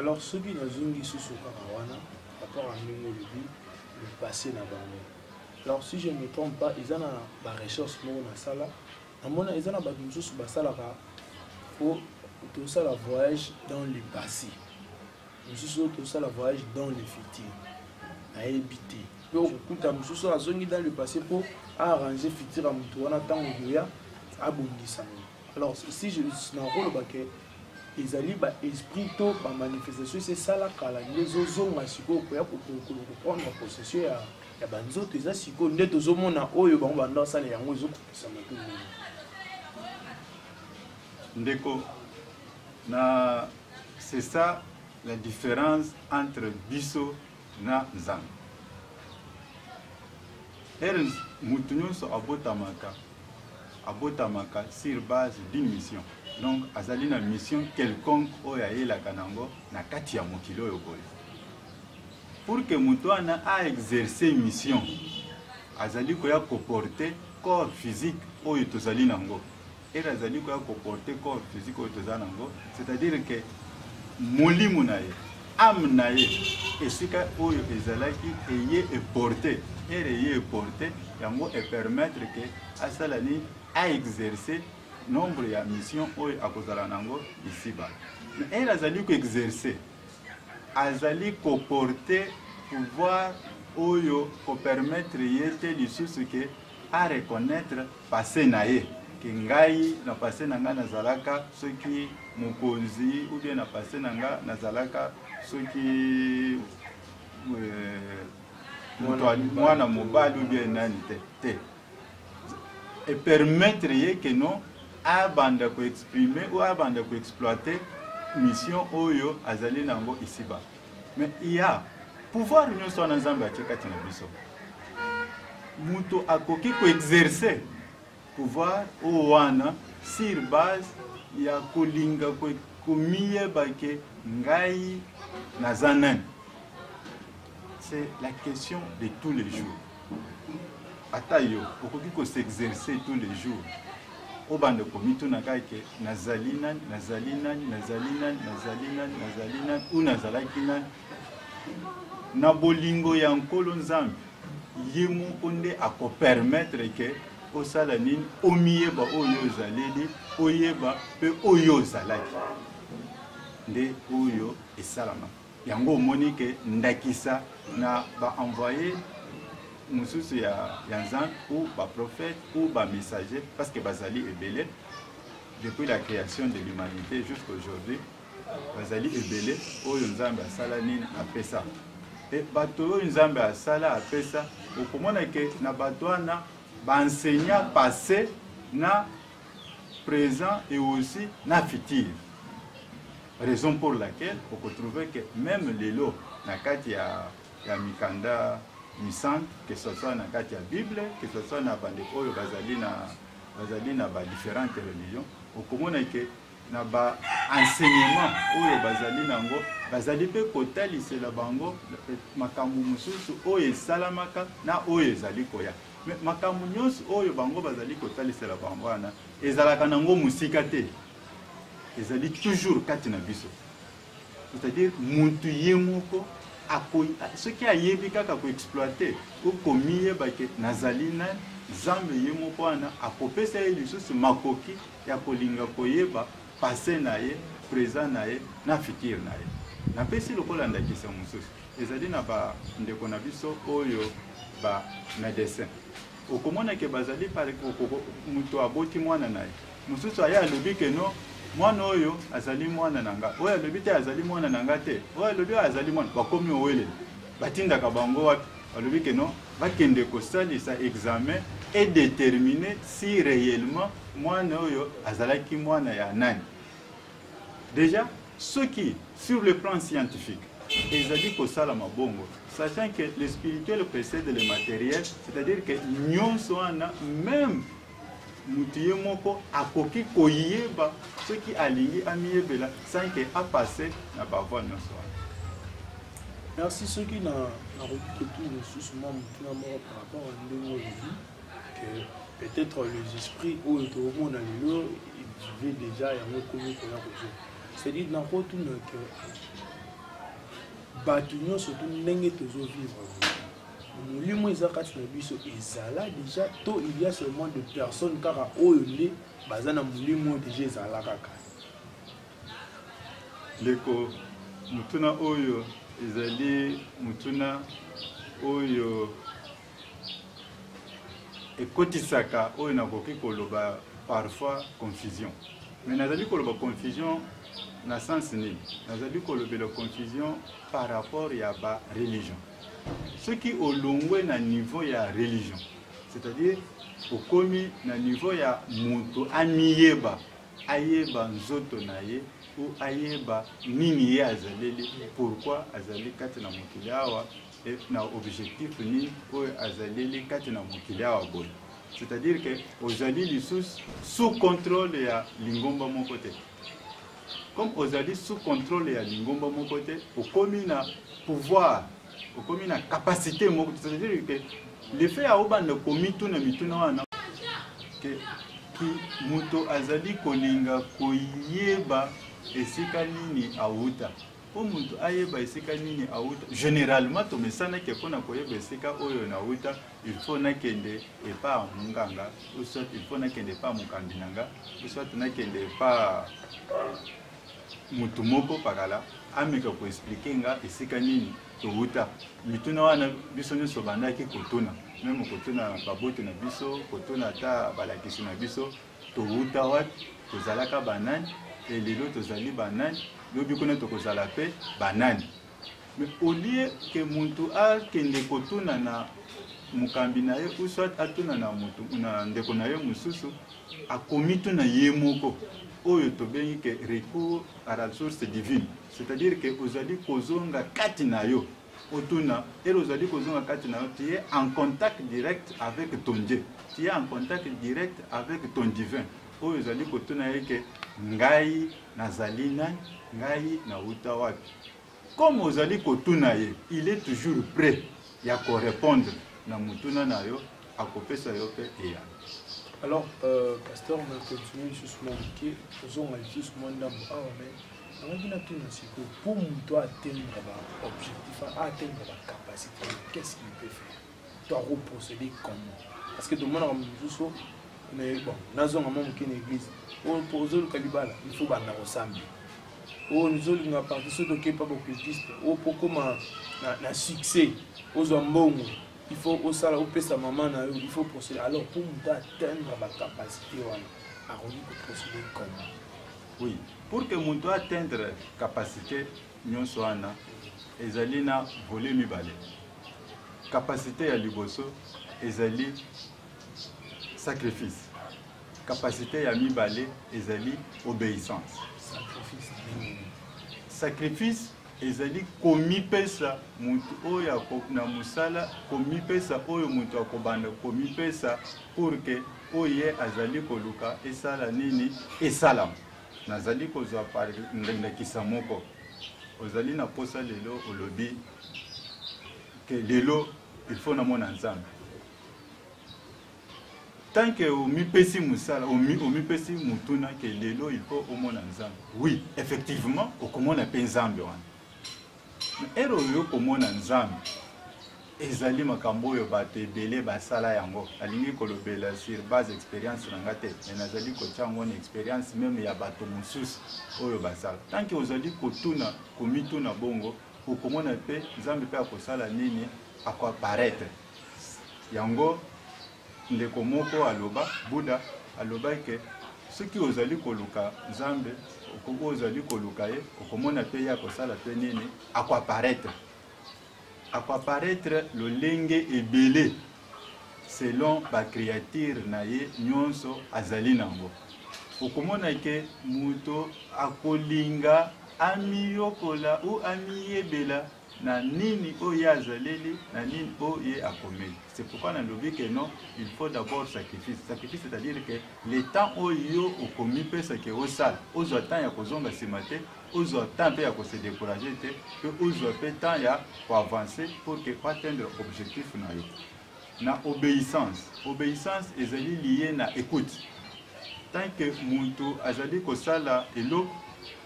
alors soki nazongi susu kaka wana rapport ya ndenge olobi lipase na bango alors si je ne me trompe pas eza na barecherche moko nasala namona eza na bato mosusu basalaka po tosala voyage dans le passé mosusu oyo tosala voyage dans le futur ayebi te mpe okokuta mosusu azongi dans le passé mpo aarrange futur ya moto wana ntango okoya abongisa ngo alors si nakoloba ke ezali baesprit to bamanifestation esi esala kala nde ezozonga sikoyo koya koprendre possession ya, ya banzoto eza sikoyo nde tozomona oyo bango banda basala yango ezokokisama to ndeko Na c'est ça la différence entre biso na Nzambe. Ere mutu nyonso abotamaka abotamaka sur base d'une mission. Donc azali na mission quelconque oyo ayelaka nango na kati ya mokili oyo boye. Pour que mutu wana a exercer mission azali koya koporter corps physique oyo tozali nango. Ere azali koya koporte corps physique oyo toza nango c'est-à-dire ke molimo na ye ame na ye esika oyo ezalaki eye eporte ere eye eporte yango epermettre ke asala nini aexerce nombre ya mission oyo akozala nango isiba mais ere azali koexerce azali koporte pouvoir oyo kopermettre ye te lisusu ke a reconnaitre passe na ye ke ngai na passe na ngai nazalaka soki mokonzi ou bien na passe na ngai nazalaka soki euh, mwana mobali ou bien nani te te epermettre ye ke no abanda koexprime ou abanda koexploite mission oyo azali na yango isiba Mais il y a pouvoir nyonso wana Nzambe atie kati na biso. Moto akoki koexerce pouvoir oyo wana sur base ya kolinga komiyeba ke ngai naza nani. C'est la question de tous les jours. ata yo okoki ko s'exercer tous les jours obanda komituna kaka ke nazali nani nazali nani nazali nani nazali nani nazali nani ou nazalaki nani na bolingo ya nkolo nzambe ye moko nde akopermettre ke osala nini omiyeba oyo ozaleli oyeba mpe oyo ozalaki nde oyo esalamaka yango omoni ke ndakisa na ba envoye mosusu ya, ya nzambe ou baprophète ou bamessager parce que bazali ebele depuis la création de l'humanité jusqu'aujourd'hui bazali ebele oyo nzambe asala nini apesa e bato oyo nzambe asala apesa okomona ke na bato wana baenseignant passé na présent et aussi na futur Raison pour laquelle oko trouver que meme lelo na kati ya, ya mikanda misantu que ce soit na kati ya Bible que ce soit na bandeko oyo bazali na bazali na ba différentes religions okomona ke na ba enseignement oyo bazali nango bazali mpe kotalisela bango makambo mosusu oyo esalamaka na oyo ezali koya me makambo nyonso oyo bango bazali kotalisela bango wana ezalaka nango mosika te ezali toujours kati na biso c'est-à-dire mutu ye moko soki ayebi kaka koexploite o komiyeba ke nazali nani nzambe ye moko wana akopesa ye lisusu makoki ya kolinga koyeba pase na ye présent na ye na fikire na ye napesi lokola ndakisa mosusu ezali na bandeko na biso oyo ba médecin okomonake bazali moto aboti mwana na ye Mosusu aye alobi ke no mwana oyo azali mwana na nga, oyo alobi te azali mwana na nga te, oyo alobi oyo azali mwana, bakomi owelela. Batindaka bango wapi? Balobi ke no bakende kosalisa examen e determiner si reellement mwana oyo azalaki mwana ya nani. Deja soki sur le plan scientifique ezali kosalama bongo sachant que le spirituel précède le matériel c'est-à-dire que nyonso wana même mutu ye moko akoki koyeba soki alingi amiyebela sans que apasse na bavoi nyonso wana merci soki na nakoki kotuya mosusu mwa motuna moko par rapport ya ndenge olobi que peut-être les esprits oyo tokomona lelo evive déjà yango ekomi koya kozwa c'est-à-dire nakotuna que bato nyonso tu ndenge tozovivre molimo eza kati na biso ezala déjà to il y a seulement de personnes kaka oyo nde baza na molimo oyo déjà ezala kaka ndeko motuna oyo ezali motuna oyo ekotisaka oyo nakoki koloba parfois confusion mais nazali koloba confusion na sens nini nazali kolobela confusion par rapport ya ba religion soki olongwe na niveau ya religion c'est-à-dire okomi na niveau ya moto amiyeba ayeba nzoto na ye ou ayeba nini ye azaleli pourquoi azali kati na mokili awa na objectif nini oyo azaleli kati na mokili awa boye c'est-à-dire que ozali lisusu sous contrôle ya lingomba moko te comme ozali sous contrôle ya lingomba moko te okomi na pouvoir okomi na capacité moko c'est-à-dire que le fait ya obanda komituna mituna wana ke moto azali kolinga koyeba esika nini awuta mpo moto ayeba esika nini awuta généralement tomesanaki mpo na koyeba esika oyo nawuta il faut nakende epa munganga ou soit il faut nakende epa mokambi na nga ou soit nakende epa motu moko pakala ameka koexplike nga esika nini towuta mituna wana biso nyonso bandaki kotuna meme kotuna baboti na biso kotuna ata balakisi na biso towuta wapi tozalaka banani elelo tozali banani lobi kuna tokozala mpe banani Mais au lieu que muntu akende kotuna na mokambi na ye ou soit atuna na motu na ndeko na ye mosusu akomituna ye moko oyo tobengi ke recours à la source divine c'est-à-dire ke ozali kozonga kati na yo otuna ele ozali kozonga kati na yo tu es en contact direct avec ton dieu tu es en contact direct avec ton divin Oyo ozali kotuna ye ke ngai nazali nani, ngai nawuta wapi? Comme ozali kotuna ye, il est toujours prêt ya ko repondre na motuna na yo, akopesa yo pe eyano. Alors, euh, pasteur, on a continué lisusu mwa moke, tozonga lisusu mwa ndambo awa, ah, mais nalaki natuna sikoyo mpo moto atteindre baobjectif aatteindre bacapacité qu'est ce qu'il peut faire to ako procéder comment parce que tomona comme mususu mais bon nazonga mwa moke na église oyo mpo ozoluka libala il faut banda kosamba oyo nizolinga parti soki toke mpa bocultiste oyo mpo okoma na, na succès ozwa mbongo il faut osala opesa mama na yo il faut procéder alors mpo moto atteindre bacapacité wana akoki koprocéder comment oui pour que moto atteindre capacité nyonso wana ezali na volet mibale Kapasite ya liboso ezali sacrifice. Kapasite ya mibale ezali obeissance. Sacrifice ezali komipesa moto oyo na mosala komipesa oyo moto akobanda komipesa pour que oyo ye azali koluka esala nini esalama nazali kozwa ndakisa moko ozali na mposa lelo olobi que lelo il faut namona nzambe tant que omipesi mosala omipesi motuna ke lelo il faut omona nzambe oui effectivement okomona mpe nzambe wana ere oyo okomona nzambe ezali makambo oyo bato ebele basala yango alingi kolobela sur base expérience na nga te me nazali kotya yango na expérience meme ya bato mosusu oyo basala tanke ozali kotuna komituna bongo okomona mpe nzambe mpe akosala nini akoaparaitre yango ndeko moko aloba buda alobaki ke soki ozali koluka nzambe oyo ozali koluka ye okomona mpe ye akosala mpe nini akoaparaitre akoaparaitre lolenge ebele selon ba creature na ye nyonso azali nango okomona ke moto akolinga amiyokola ou amiyebela na nini oyo ye azaleli na nini oyo ye akomeli c'est pourquoi nalobi ke non il faut d'abord sacrifice sacrifice c'est-à-dire ke le temps oyo yo okomipesa ke osala ozwa temps ya kozonga nsima te ozwa temps mpe ya ko se décourager te mpe ozwa mpe temps ya ko avancer pour que oatteindre objectif na yo na obéissance obéissance ezali liye na écoute tant que moto azali kosala eloko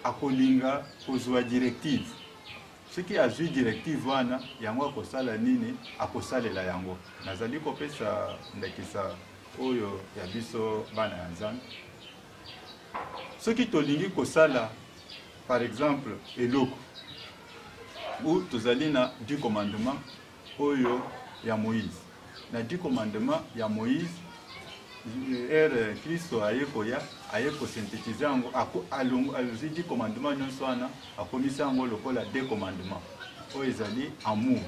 akolinga kozwa directive soki azwi directive wana yango akosala nini akosalela yango nazali kopesa ndakisa oyo ya biso bana ya nzambe soki tolingi kosala par exemple eloko ou tozali na du commandement oyo ya moïse na du commandement ya moïse ere kristo aye koya aye kosynthétise yango alonzi du commandement nyonso wana akomisi yango lokola de commandement oyo ezali amour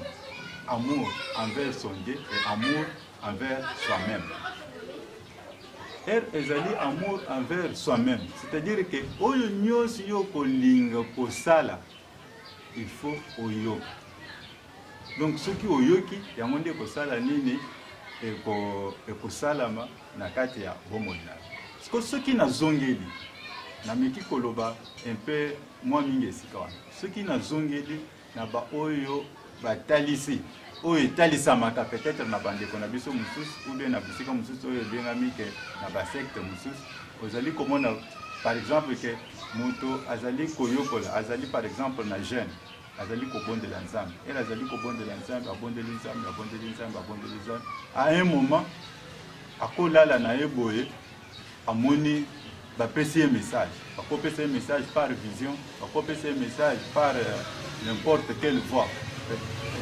amour envers son dieu et amour envers soi-même. Heure ezali amour envers soi-même. C'est-à-dire que oyo nyonso yo kolinga kosala, il faut oyoka. Donc soki oyoki, yango nde kosala nini ekosalama na kati ya bomoi na yo. Soki nazongeli, nameki koloba un peu mwa mingi esika wana. Soki nazongeli na baoyo batalisi oyo etalisamaka peut-être na bandeko na biso mosusu ou bien na bisika mosusu oyo ebengami ke na basecte mosusu ozali komona par exemple ke moto azali koyokola azali par exemple na jeune azali kobondela nzambe ele azali kobondela nzambe abondeli nzambe abondeli nzambe abondeli nzambe à un moment akolala na ye boye amoni bapesi ye message bakopesa ye message par vision bakopesa ye message par euh, n'importe quelle voix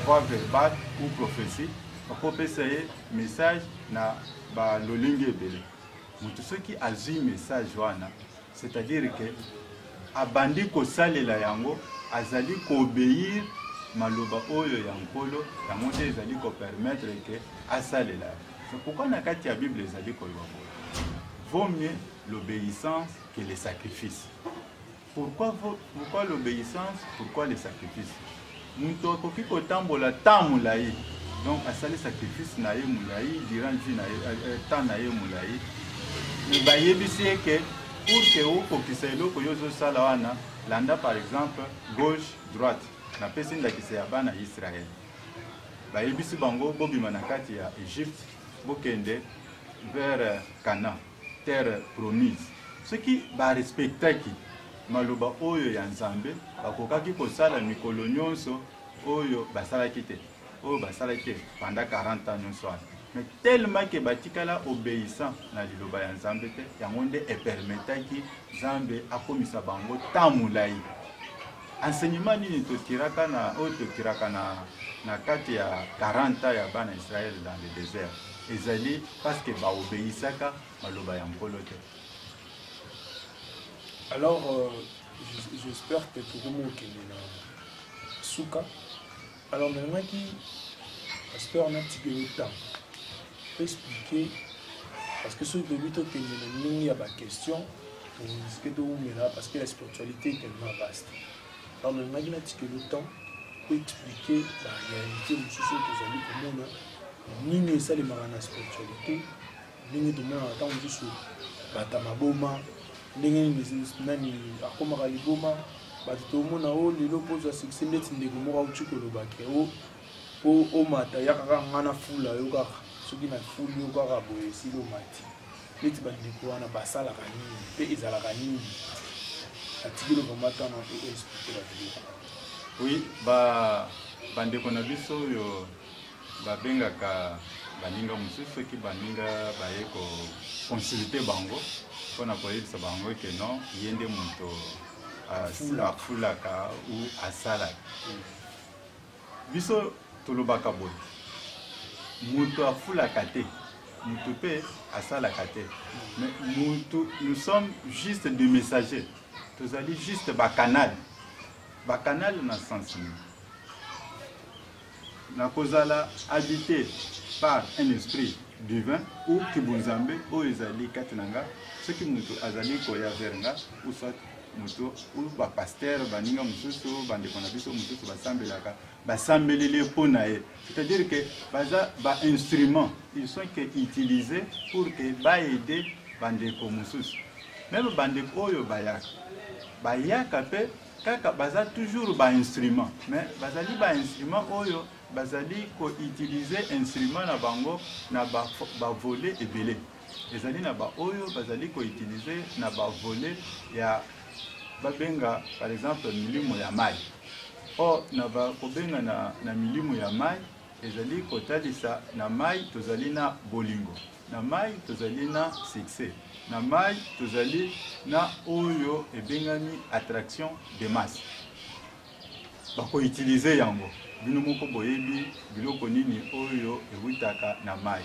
voix verbale ou prophétie bakopesa ye message na balolenge ebele moto soki azwi message wana c'est-à-dire ke abandi kosalela yango azali koobeyir maloba oyo ya nkolo yango nde ezali kopermettre ke asalela C'est pourquoi na kati ya Bible ezali koloba boye. Vaut mieux l'obéissance que le sacrifice. Pourquoi, pourquoi l'obéissance Pourquoi le sacrifice moto akoki kotambola temps molai donc asali sacrifice na ye molai durant vie na ye euh, euh, temps na ye molai me bayebisi ye ke pour ke okokisa eloko yo ozosala wana landa par exemple gauche droite napesi ndakisa ya bana ya israele bayebisi bango bobima na kati ya egypte bokende vers cana terre promise soki barespectaki maloba oyo ya nzambe bakokaki kosala mikolo nyonso oyo basalaki te oyo basalaki te panda 40 ans nyonso wana mais tellement ke batikala obéissant na liloba ya nzambe te yango nde epermetaki nzambe akomisa bango temps molai Enseignement nini totiraka na oyo totiraka na na kati ya 40 ans ya bana Israël dans le désert ezali parce que ba obeyisaka maloba ya Nkolo te. Alors euh, j'espère que tokomi okende na suka Alors nalingaki pasteur natiki yo ntango expliquer parce que soki toyebi tokende na ndenge ya baquestion torisque towumela parce que la spiritualité est tellement vaste alors nalingaki natiki yo temps po expliquer baréalité mosusu oyo tozali komona nini esalemaka na spiritualité ndenge tomonaka ntango mosusu bata maboma ndenge nini nani akomaka liboma bato tomona o oh, lelo mpo ozwa succès ndeti ndeko moko auti koloba ke o oh, mpo omata yaka kaka ngai na fula yo kaka soki na fuli yo kaka boye esili omati neti bandeko wana basalaka nini mpe ezalaka nini atikeli komata na mpe oexplike babiloko oui ba bandeko na biso oyo babengaka baninga mosusu soki baninga baye koconsulte bango mpo na koyebisa bango eke non ye nde moto afulaka ou asalaka biso tolobaka boye moto afulaka te moto mpe asalaka te mais moto nous sommes juste des messagers tozali juste bacanal bacanal na sens nini Nakozala habite par un esprit divin ou kibunzambe oyo ezali kati na nga soki moto azali koya vers nga ou soit moto ou bapastere baninga mosusu bandeko na biso mosusu basambelaka basambeleli mpo na ye c'est-à-dire que baza bainstrument ils sont que utilisé pour que baede bandeko mosusu meme bandeko oyo bayaka bayaka mpe kaka baza toujours ba instrument mais bazali ba instrument oyo bazali koutilize instrument na bango na bavole ba ebele ezali na baoyo bazali koutilize na bavole ya babenga par exemple milimo ya mai or na kobenga na, na milimo ya mai ezali kotalisa na mai tozali na bolingo na mai tozali na succès na mai tozali na oyo ebengami attraction de masse bakoutilize yango bino moko boyebi biloko nini oyo ewutaka na mai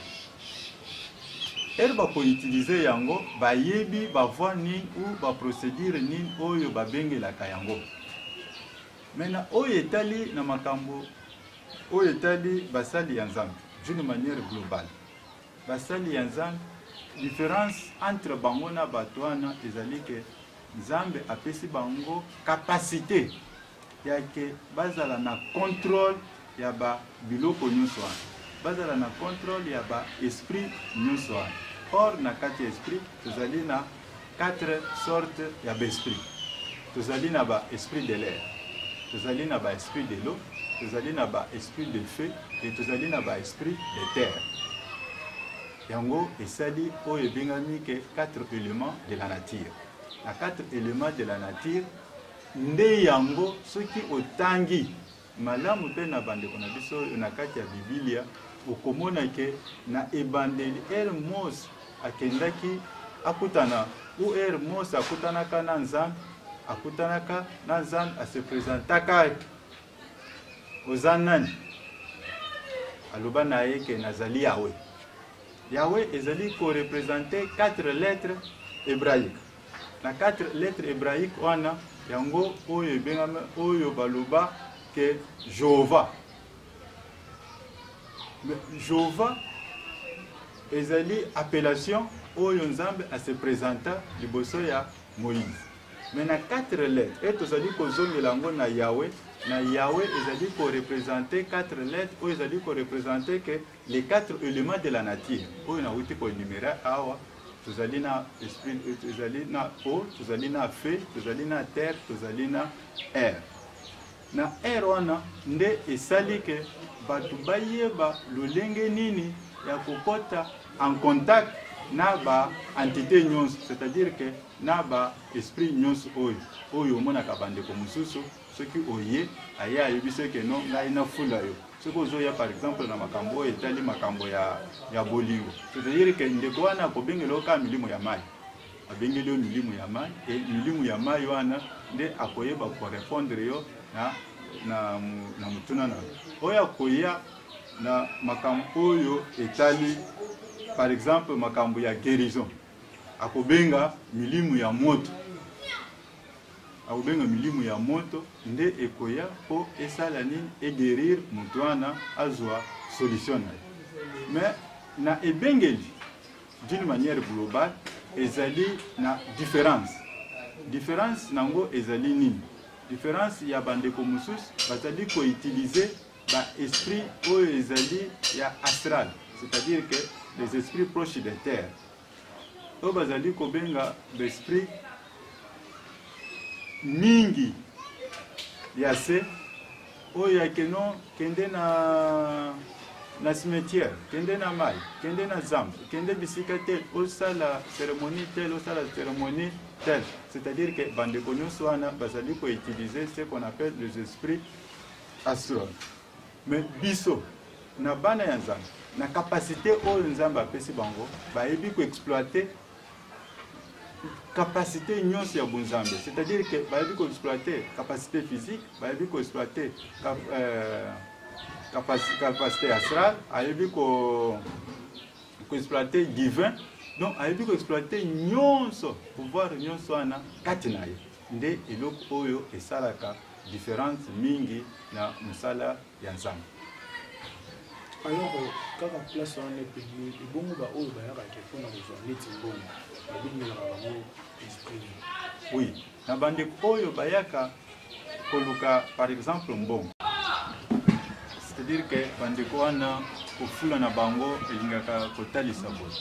ere bakoutilize yango bayebi bavoi nini ou baprocédure nini oyo babengelaka yango mena oyo etali na makambo oyo etali basali ya nzambe d'une manière globale Basali ya Nzambe, difference entre bango na bato wana ezali ke Nzambe apesi bango kapasite ya ke bazala na controle ya ba biloko nyonso wana, bazala na controle ya ba esprit nyonso wana. Or na kati ya esprit tozali na Quatre sortes ya ba esprit. Tozali na ba esprit de l'air, tozali na ba esprit de l'eau, tozali na ba esprit de feu et tozali na ba esprit de terre. Yango esali oyo ebengami ke quatre éléments de la nature. Na quatre éléments de la nature nde yango soki otangi Malamu mpe na bandeko na biso oyo na kati ya Bibilia, okomona ke na ebandeli ere Mose akendaki akutana ou ere Mose akutanaka na Nzambe, akutanaka na Nzambe, ase presentaka oza nani? Aloba na ye ke nazali Yahweh. Yahweh ezali ko representer quatre lettres hebraiques. Na quatre lettres hebraiques wana, yango oyo ebengami oyo baloba ke Jehovah. Jehovah ezali appellation oyo Nzambe a se presenta liboso ya Moïse. Mais na quatre lettres et tozali kozongela yango na Yahweh, na Yahweh ezali ko representer quatre lettres oyo ezali ko representer ke Les quatre elements de la nature oyo nawuti ko enumerer awa tozali na esprit, tozali na eau, tozali na feu, tozali na terre, tozali na air. Na air wana nde esali ke bato bayeba lolenge nini ya kokota en contact na ba entité nyonso, c'est-à-dire que na ba esprit nyonso oyo oyo omonaka bandeko mosusu soki oye aye ayebise ke no ngai nafula yo soki ozoya par exemple na makambo oyo etali makambo ya, ya bolingo c'est-à-dire ke ndeko wana akobengela yo kaka milimo ya mai abengeli yo milimo ya mai e milimo ya mai wana nde akoyeba korepondre yo na, na, na motuna na oyo akoya na makambo oyo etali par exemple makambo ya guérison akobenga milimu ya moto Akobenga milimu ya moto nde ekoya po esala nini? E guerir moto wana azua solution na ye. Mais na ebengeli d'une manière globale ezali na difference. Difference na yango ezali nini? Difference ya ba ndeko mosusu bazali ko utiliser ba esprits oyo ezali ya astral, c'est-à-dire que les esprits proches de terre. oyo bazali kobenga besprit mingi ya se oyo ya keno kende na na cimetière kende na mai kende na zamba kende bisika te osala cérémonie tel osala cérémonie tel c'est-à-dire que bandeko nyonso wana bazali koutiliser ce qu'on appelle les esprits astrologues Mais biso na bana ya Nzambe na capacité oyo Nzambe apesi bango bayebi ko exploiter capacité nyonso ya bonzambe c'est-à-dire que bayebi ko exploiter capacité physique bayebi ko exploiter cap, euh, capacité astrale ayebi ko ko exploiter divin donc ayebi ko exploiter nyonso pouvoir nyonso wana kati na ye nde eloko oyo esalaka difference mingi na mosala ya nzambe alors euh, kaka place wana epeli ebongo baoyo bayaka te mpona kozwa neti mbongo babengelaka bango esprit oui na bandeko oyo bayaka koluka par exemple mbongo c'est-à-dire que bandeko wana kofula na bango elingaka kotalisa boye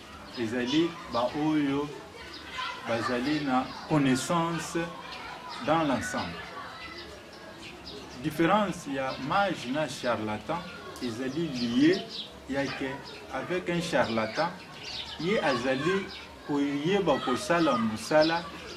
Ezali ba oyo bazali na connaissance dans l'ensemble. Différence il y a mage na charlatan ezali lié ya que avec un charlatan ye azali koyeba kosala musala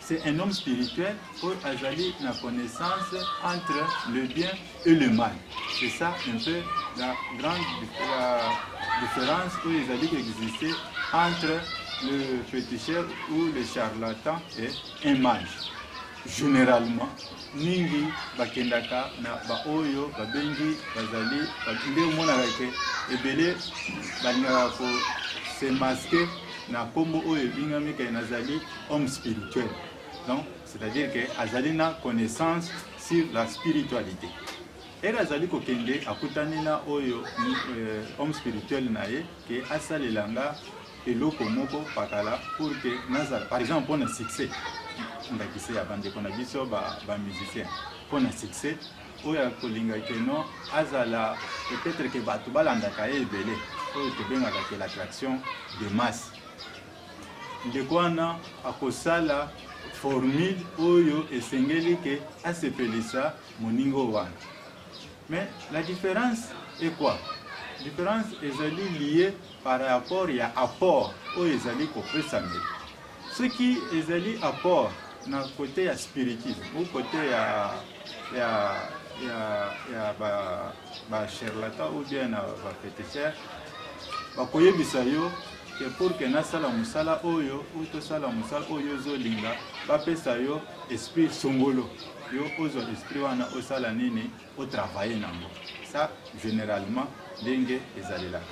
C'est un homme spirituel où Azali la connaissance entre le bien et le mal. C'est ça un peu la grande la différence où ils allaient exister entre le féticheur ou le charlatan et un mage. Généralement, mingi bakendaka na baoyo babengi bazali nde omonaka ke ebele balingaka ko se maske na nkombo oyo ebingami ke nazali homme spirituel donc c'est-à-dire que azali na connaissance sur la spiritualité ere azali kokende akutani na oyo euh, homme spirituel na ye ke asalela nga eloko moko pakala pour que nazala par exemple mpo na succès ndakisa ya bandeko na biso bamusicien ba mpo na succès oyo akolinga ke non azala peut-être ke bato balandaka ye ebele oyo tobengaka ke l'attraction de masse Ndeko wana akosala formule oyo esengeli ke asepelisa moningo wana. Mais la différence est quoi? Différence ezali liée par rapport ya apport oyo ezali kopesamela. Soki ezali apport na kote ya spiritisme ou kote ya, ya, ya, ya ba, ba charlatan ou bien na ba feticheur bakoyebisa yo que pour que nasala mosala oyo ou tosala mosala oyo ozolinga bapesa yo esprit songolo yo ozwa esprit wana osala nini otravaille nango ça généralement ndenge ezalelaka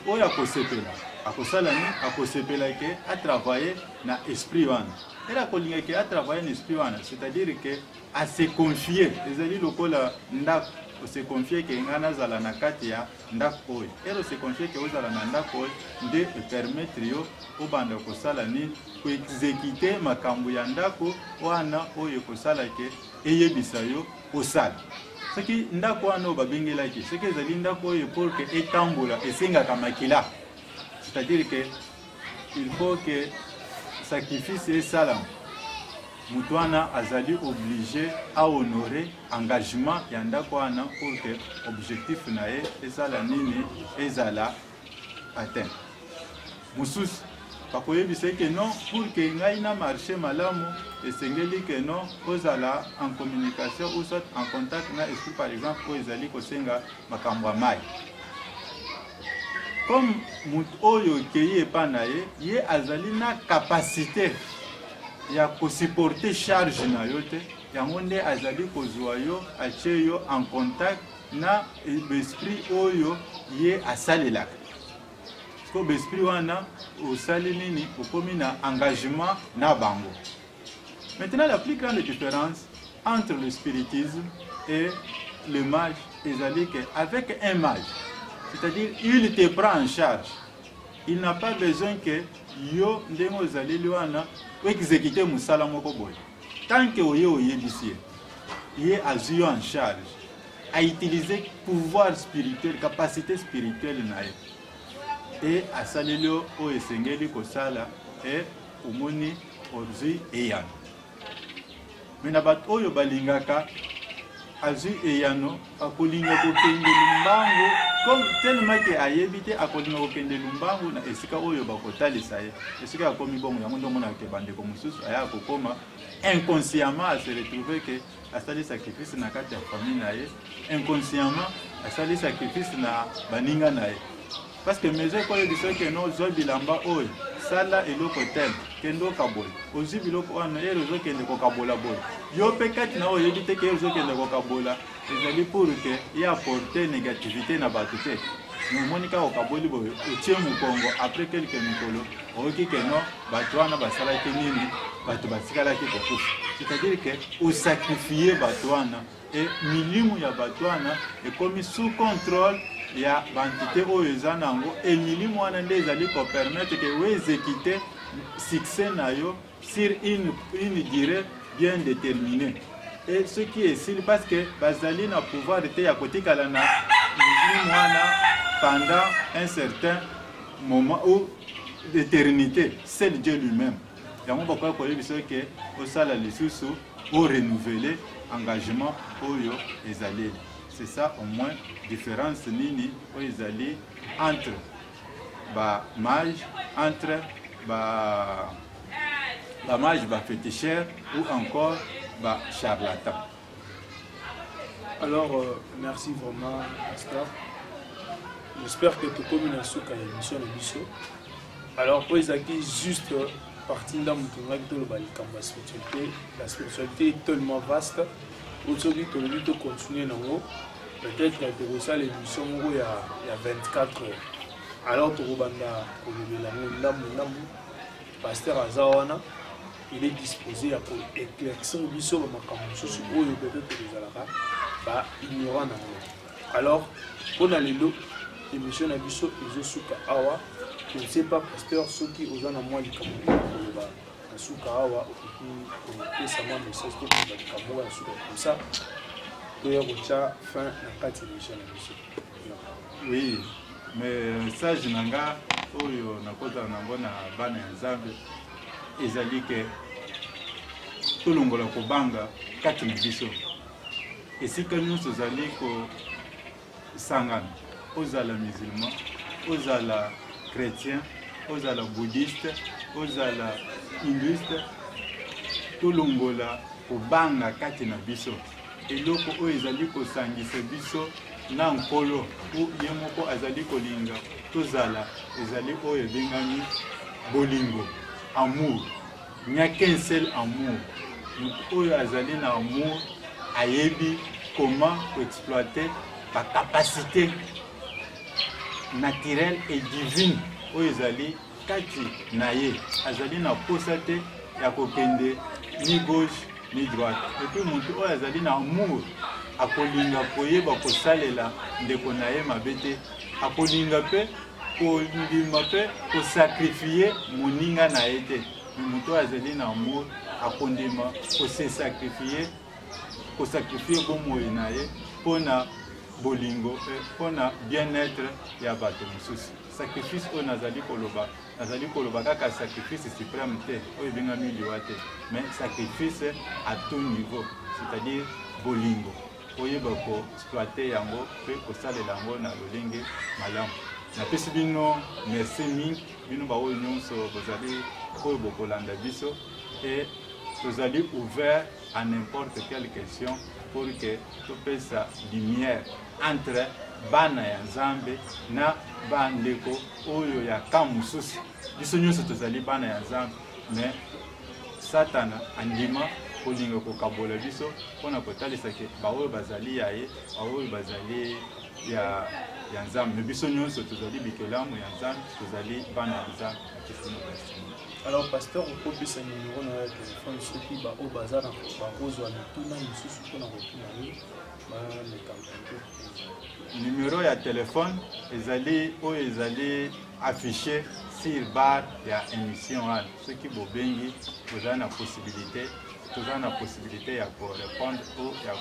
oyo akosepela akosala nini akosepela ke atravaille na esprit wana ela akolinga ke atravaille na esprit wana c'est-à-dire ke ase confie ezali lokola ndako ose confie ke ngai nazala na kati ya ndako oyo ero se confie ke ozala na ndako oyo nde epermettre yo obanda kosala nini koexekite makambo ya ndako wana oyo ekosala ke eyebisa yo osala soki ndako wana oyo babengelaki soki ezali ndako oyo pour ke etambola esengaka makila c'est-à-dire ke il faut ke sacrifice esalama moto wana azali oblige ahonore engagement ya ndako wana pour que objectif na ye ezala nini ezala atteint mosusu bakoyebisa ye ke non pour ke ngai na marché malamu esengeli ke non ozala en communication ou soit en contact na esprit par exemple oyo ezali kosenga makambo ya mai comme moto oyo okei epai na ye ye azali na capacité ya kosupporte charge na yo te Yango nde azali kozwa yo atye yo en contact na besprit oyo ye asalelaka ko besprit wana osali nini okomi na engagement na bango maintenant la plus grande différence entre le spiritisme et le mage ezali que avec un mage c'est-à-dire il te prend en charge il n'a pas besoin que yo ndenge ozaleli wana oexécute mosala moko boye tant que oye oyebisi ye ye azwi yo en charge autilize pouvoir spirituel capacité spirituelle na ye e asaleli yo oyo esengeli kosala e omoni ozwi eyano me na bato oyo balingaka azwi eyano akolinga kokende lumbango comme tellement ke ayebi te akolinga kokende lumbango na esika oyo bakotalisa ye esika akomi bongo yango nde omonaka ke bandeko mosusu aya kokoma inconsciemment ase retrouve ke asali sacrifice na kati ya famille na ye inconsciemment asali sacrifice na baninga na ye Parce que maison ekoyo biso que no zwa bilamba oyo sala eloko tel kende okabola ozwi biloko wana ere ozokende kokabola boye yo mpe kati na oyo oyebi te ke ozokende kokabola ezali pour ke ye aporte négativité na bato te omoni kaka okaboli boye otie mokongo après quelque mikolo oyoki ke no bato wana basalaki nini bato batikalaki kokufa c'est-à-dire ke osakrifie bato wana et milimu ya batu wana ekomi sous controle ya bantite oyo eza nango et milimu wana nde ezali ko permettre que o execute succès na yo sur une, une durée bien déterminée et ce qui est sûr parce que bazali na pouvoir te ya kotikala na milimu wana pendant un certain moment ou l'éternité seul Dieu lui-même yango bakoki koyebisa ke osala lisusu o renouveler engagement oyo ezaleli c'est ça au moins différence nini oyo ezali entre ba mage entre ba ba mage ba féticheur ou encore ba charlatan alors euh, merci vraiment pasteur j'espère que tokomi na suka ya émission na biso alors mpo ezalaki juste parti ndambo tongaki toloba likambo ya spiritualité la spiritualité est tellement vaste oyo soki tolobi tocontinue nango peut-être tokosala émission moko ya 24 heures alors tokobanda kolobela yango ndambo ndambo paster aza wana il est disposé ya ko éclaircir biso bamakambo mosusu oyo peut-être tozalaka ba ignorant na yango alors mpo na lelo émission na biso ezosuka awa je ne sais pas pasteur soki oza na mwa likambo koloba na suka awa okoki kopesa mwa message to koloba likambo oyo ya suka comme ça toya kotya fin na kati ya émission na biso oui mais message na nga oyo nakozala nango na bana ya nzambe ezali ke tolongola kobanga kati na biso esika nyonso ozali kosangana ozala musulman ozala chrétien ozala bouddhiste ozala hinduiste tolongola kobanga kati na biso eloko oyo ezali kosangisa biso na nkolo po ye moko azali kolinga tozala ezali oyo ebengami bolingo amour Il n'y a qu'un seul amour. Moto oyo azali na amour ayebi comment koexploiter bacapacité naturelle et divine oyo ezali kati na ye. Azali na mposa te ya kokende ni gauche ni droite. Epuis moto oyo azali na amour akolinga koyeba kosalela ndeko na ye mabe te, akolinga mpe kondima mpe kosakrifie moninga na ye te me moto oyo azali na amour akondima kosesakrifie kosakrifie bomoi na ye mpo na bolingo eh, mpo na bien-être ya bato mosusu sacrifice oyo nazali koloba nazali koloba kaka sacrifice suprême te oyo ebengami liwa te mais sacrifice à tout niveau c'est-à-dire bolingo oyeba ko exploiter yango pe kosalela yango na lolenge malamu napesi bino merci mingi bino baoyo nyonso bozali oyo bokolanda biso e tozali ouvert à n'importe quelle question pour que topesa lumière entre bana ya nzambe na bandeko oyo ya camp mosusu biso nyonso tozali bana ya nzambe me satana andima kolinga kokabola biso mpo na kotalisa ke baoyo bazali ya ye baoyo bazali ya ya nzambe me biso nyonso tozali bikelamu ya nzambe tozali bana ya nzambe akisino destine alors pasteur okopesa nimero na ya telefone soki baoyo baza na bakozwa mituna mosusu mpo na kotuna ye Numero ya telefone ezali oyo ezali affiche sur bar ya emission wana soki bobengi boza na possibilité toza na possibilité ya korépondre to ya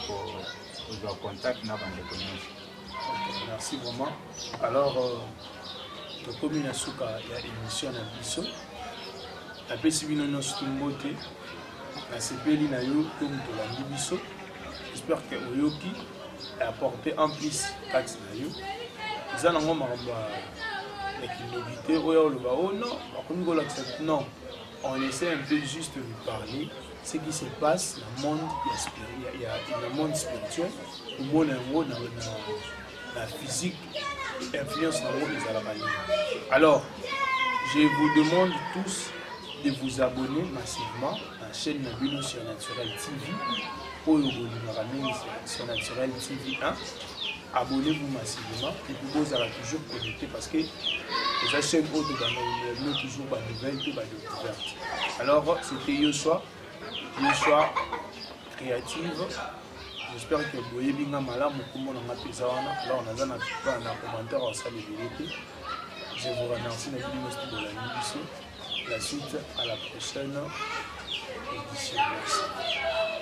kozwa contact na bandeko nyonso merci vraiment alors euh, tokomi na suka ya émission na biso napesi bino nyonso mbote nasepeli na yo to moto olandi biso j'espère que oyoki apporte en plus kati na yo eza nango makambo ya kindoki te oyo oloba o oh non bakomi kolakisa non on essaie un peu juste de parler ce qui se passe na monde ya, ya, ya, ya monde spirituel omona yango na, na na physique influence na ngo ezalaka nini alors je vous demande tous de vous abonner massivement na chaîne na bino sur naturel tv oyo bolingaka mingi sur naturel tv 1 abonnez-vous massivement et puis bozala toujours connecté parce que eza chaîne oyo tobandabino toujours banouvelle mpe badécouverte alors c'était yo soir yo soir creative j'espère que boyebi nga malamu kombo na nga mpenza wana alors naza na plupart na commentaire osala ebele te je vous remercie na bino nyonso bolandi biso la suite à la prochaine édition merci